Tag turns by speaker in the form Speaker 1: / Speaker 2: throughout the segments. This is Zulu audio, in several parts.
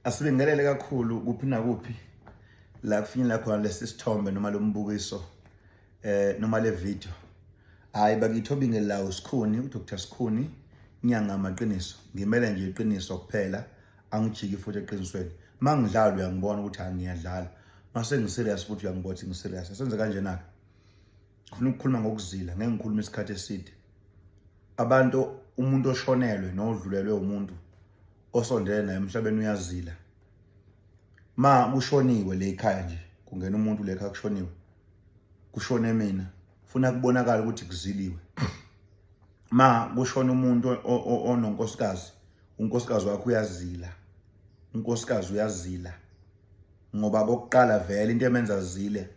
Speaker 1: asibingelele kakhulu kuphi nakuphi la kufinyelela khona lesi sithombe noma lo mbukiso eh noma le video hayi bakithi obingelawo sikhuni udr sikhuni inyanga amaqiniso ngimele nje iqiniso kuphela angijiki futhi eqinisweni mangidlala uyangibona ukuthi angiyadlala mase ngiserious futhi uyangibona ukuthi ngiserious senze kanjena ke ngifuna ukukhuluma ngokuzila ngeke ngikhulume isikhathi eside abantu umuntu oshonelwe nodlulelwe umuntu osondele naye emhlabeni uyazila ma kushoniwe le ekhaya nje kungena umuntu le ekhaya kushoniwe kushone mina funa kubonakala ukuthi kuziliwe ma kushona umuntu ononkosikazi unkosikazi wakho uyazila unkosikazi uyazila ngoba kokuqala vele into emenza zile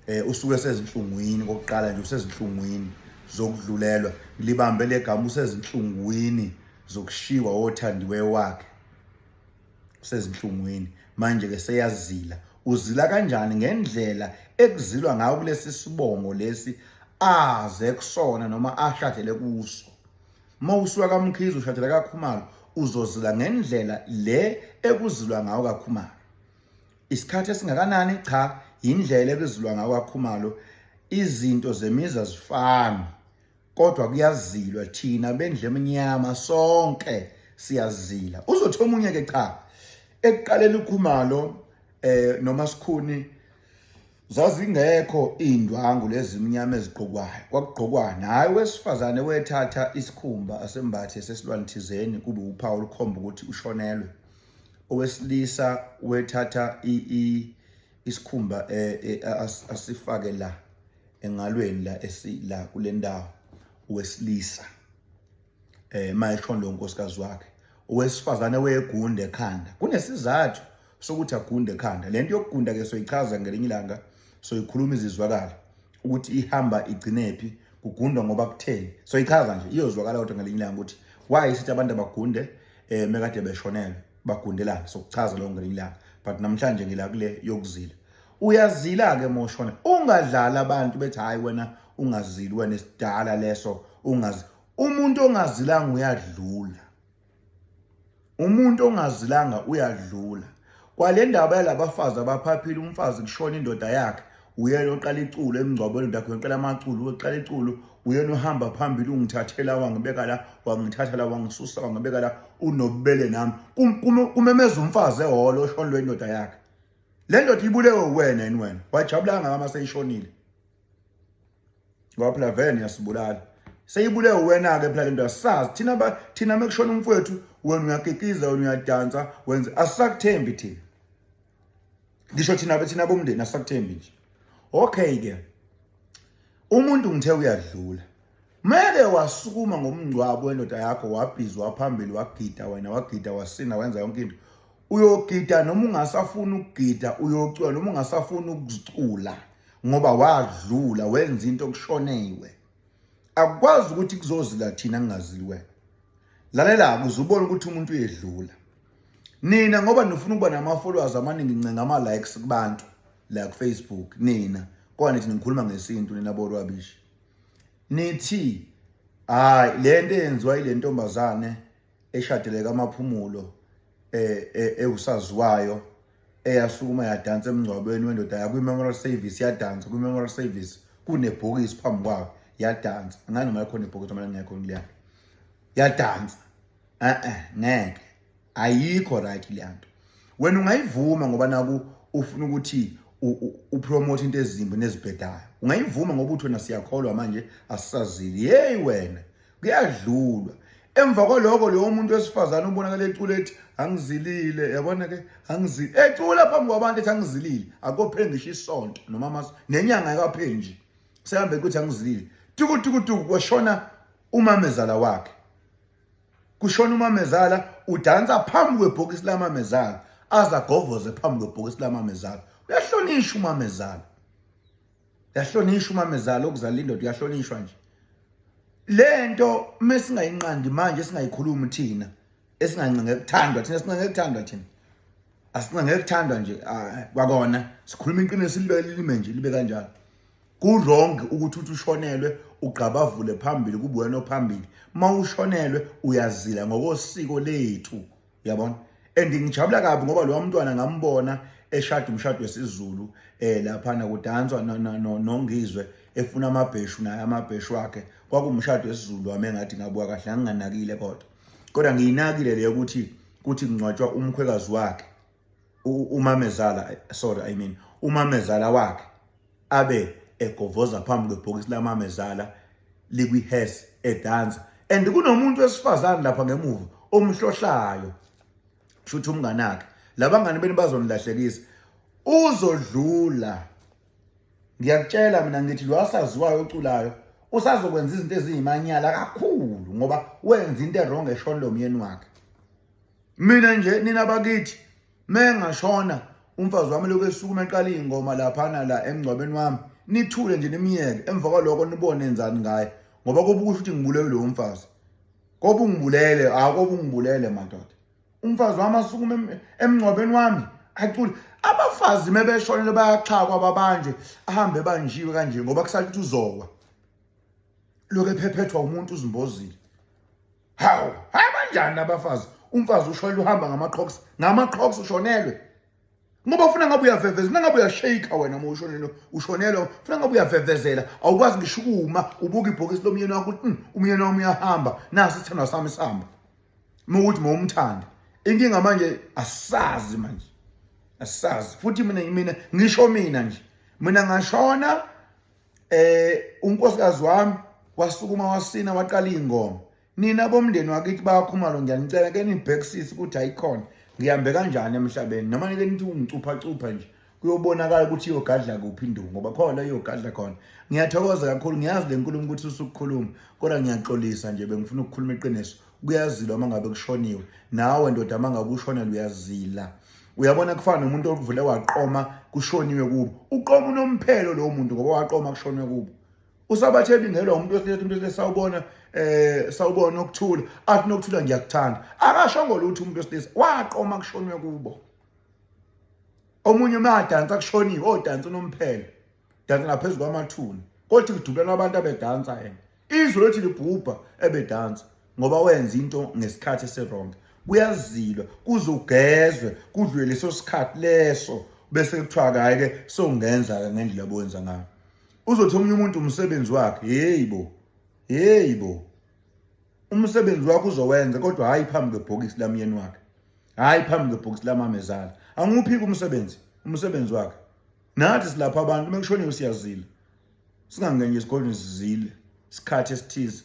Speaker 1: eh usuke sezinhlungwini kokuqala nje usezinhlungwini zokudlulelwa libambe legama usezinhlungwini zokushiwa othandiwe wakhe usezinhlungwini manje ke seyazila uzila kanjani ngendlela ekuzilwa ngayo kulesi sibongo lesi aze kusona noma ashathele kuso Uma usuka kaMkhize ushadela kaKhumalo uzozila ngendlela le ekuzilwa ngawo kaKhumalo. Isikhathi esingakanani cha indlela ekuzilwa ngawo kaKhumalo izinto zemiza zifana kodwa kuyazilwa thina bendle emnyama sonke siyazila uzothi omunye ke cha ekuqaleni ukhumalo eh noma sikhuni zazingekho iy'ndwangu lezi mnyama ezigqokwayo kwakugqokwani hhayi wesifazane wethatha isikhumba asembathe sesilwane thizeni kube uphawu olukhomba ukuthi ushonelwe owesilisa wethatha isikhumba e, e, asifake la engalweni la esila kule ndawo owesilisa eh mayeshondo unkosikazi wakhe owesifazane wegunde ekhanda kunesizathu sokuthi agunde ekhanda lento yokugunda ke soyichaza ngelinye ilanga soyikhuluma izizwakala ukuthi ihamba igcinephi kugundwa ngoba kutheni soyichaza nje iyozwakala kodwa ngelinye ilanga ukuthi why sithi abantu abagunde eh mekade beshonelwe bagundelana sokuchaza lokho ngelinye ilanga but namhlanje ngila kule yokuzila uyazila ke moshona ungadlala abantu bethi hayi wena ungazili wena isidala leso ungazi umuntu ongazilanga uyadlula umuntu ongazilanga uyadlula kwale ndaba yalabafazi abaphaphile umfazi kushona indoda yakhe uyena oqala iculo emngcwabweni ndakho uqala amaculo uqala iculo uyena uhamba phambili ungithathela wangibeka la wangithatha la wangisusa wangibeka la unobubele nami kumemeza umfazi ehholo oshonelwe indoda yakhe le ndoda ibulewe uwena yini wena wajabulanga ngama seyishonile ngoba phela vele niyasibulala seyibulewe wena-ke phela lento asisazi thina thina mekushona umfowethu wena uyakikiza wena uyadansa wenze asisakuthembi thina ngisho thina thina bomndeni asisakuthembi nje okay-ke umuntu ngithe uyadlula Mele wasukuma ngomngcwabo wendoda yakho wabhizwa phambili wagida wena wagida wasina wenza yonke into. Uyogida noma ungasafuni ukugida uyocula noma ungasafuni ukuzicula ngoba wadlula wenza into okushoneiwe. Akukwazi ukuthi kuzozila thina kungazili wena. Lalela kuze ubone ukuthi umuntu uyedlula. Nina ngoba nifuna ukuba nama followers amaningi ncenga ama likes kubantu la ku Facebook nina. Kwani thina ngikhuluma ngesintu nina borwabishi. nithi hayi lento eyenziwa ile ntombazane eshadeleka amaphumulo eh, eh ewusaziwayo eyasukuma yadansa emngcwabeni wendoda yakwi memorial service yadansa kwi memorial service kunebhokisi phambi kwayo yadansa ngani noma ikhona ibhokisi uma lingekho kuliyana yadansa eh eh ngeke ayikho right leyanto wena ungayivuma ngoba naku ufuna ukuthi upromote into ezimbi nezibhedayo ungayivuma ngoba uthi wena siyakholwa manje asisazili yeyi wena kuyadlulwa emva kwaloko lowo muntu wesifazane ubonakala ecula ethi angizilile yabona ke angizili ecula phambi kwabantu ethi angizilile akopheli ngisho isonto noma mas nenyanga ekapheli nje sehambe kuthi angizilile tukutukutuku kwashona umamezala wakhe kushona umamezala udansa phambi kwebhokisi lamamezala aza govoze phambi kwebhokisi lamamezala uyahlonishwa umamezala uyahlonishwa umamezala okuzala indoda uyahlonishwa nje le nto uma singayinqandi manje singayikhulumi thina esingancinge kuthandwa thina singancinge kuthandwa thina asingancinge kuthandwa nje kwakona sikhuluma iqiniso libe lime nje libe kanjalo Kurongi ukuthi uthi ushonelwe ugqabavule phambili kubuwena ophambili. Mawushonelwe uyazila ngokosiko lethu. Yabona? And ngijabula kabi ngoba lo mntwana ngambona eshada umshado wesiZulu eh lapha na kudanswa nongizwe efuna amabheshu naye amabheshu wakhe kwakumshado wesiZulu wami engathi ngabuka kahle nginganakile kodwa kodwa ngiyinakile le ukuthi kuthi kungcwatshwa umkhwekazi wakhe umamezala sorry i mean umamezala wakhe abe egovoza phambi kwebhokisi lamamezala likwi-hes edansa and kunomuntu wesifazane lapha ngemuva omhlohlayo shuthi umngane akhe labangani beni bazonilahlekisa uzodlula ngiyakutshela mina ngithi lo asaziwayo oculayo usazokwenza izinto eziyimanyala kakhulu ngoba wenza into erong eshoni lo myeni wakhe mina nje nina bakithi mengashona umfazi wami lokhu esukuma eqala iy'ngoma laphana la emngcwabeni wami nithule nje nimyeke emva kwaloko nibone enzani ngaye ngoba kobe ukusho ukuthi ngibulewe lowo mfazi kobe ungibulele hhayi kobe ungibulele madoda umfazi wami asukume emngcwabeni wami acule abafazi uma beshonele bayaxhakwa babanjwe ahambe ebanjiwe kanje ngoba kusale ukuthi uzowa lokhu ephephethwa umuntu uzimbozile hawu hayi banjani abafazi umfazi ushwele uhamba ngama-crocs ngama-crocs ushonelwe ngoba ufuna ngabe uyavevezela ufuna ngabe uyashayika wena uma ushonelwe ushonelwe ufuna ngabe uyavevezela awukwazi ngisho ukuma ubuka ibhokisi lomyeni wakho ukuthi hmm, umyeni wami uyahamba nasi isithandwa sami sihamba uma ukuthi ma umthanda inkinga manje asazi manje asazi futhi mina mina ngisho mina nje mina ngashona eh unkosikazi wami wasukuma wasina waqala ingoma nina bomndeni wakithi bayakhumalo ngiyanicela ke nibhekisise ukuthi ayikhona ngihambe kanjani emhlabeni noma nike nithi ungicupha cupha nje kuyobonakala ukuthi iyogadla kuphi induku ngoba khona iyogadla khona ngiyathokoza kakhulu ngiyazi le nkulumo ukuthi usukukhuluma kodwa ngiyaxolisa nje bengifuna ukukhuluma iqiniso kuyazila uma ngabe kushoniwe nawe ndoda uma ngabe ushonela uyazila uyabona kufana nomuntu ovule waqoma kushoniwe kubo uqoma unomphelo lowo muntu ngoba waqoma kushoniwe kubo usabatheli ngelwa umuntu wesilisa umuntu wesilisa sawubona eh sawubona ukuthula athi nokuthula ngiyakuthanda akashongo lutho umuntu wesilisa waqoma kushoniwe kubo omunye umadansa kushoniwe odansa unomphelo dansa ngaphezulu kwamathuna kodwa kudukelwa abantu abedansa yena izwe lothi libhubha ebedansa ngoba wenza into ngesikhathi esironge kuyazilwa kuzogezwe kudlule leso sikhathi leso bese kuthiwa kayi-ke sowungenza-ke ngendlela bowenza ngayo uzothi omunye umuntu umsebenzi wakhe heyi bo heyi bo umsebenzi wakho uzowenza kodwa hhayi phambi kwebhokisi lamyeni wakhe hhayi phambi kwebhokisi lamamezala angiwuphiki umsebenzi umsebenzi wakhe nathi silapha abantu uma kushoniwe siyazile singangenye esigodlweni sizile isikhathi esithize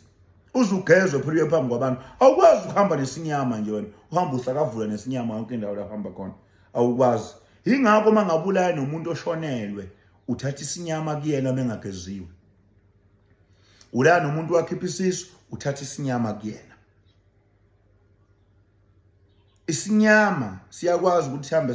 Speaker 1: uze ugezwe phela uye phambi kwabantu awukwazi ukuhamba nesinyama nje wena uhamba usakavula nesinyama yonke indawo lapho hamba khona awukwazi yingakho uma ngabulaya nomuntu oshonelwe uthatha isinyama kuyena uma engageziwe ulaya nomuntu wakhipha isisu uthatha isinyama kuyena isinyama siyakwazi ukuthi sihambe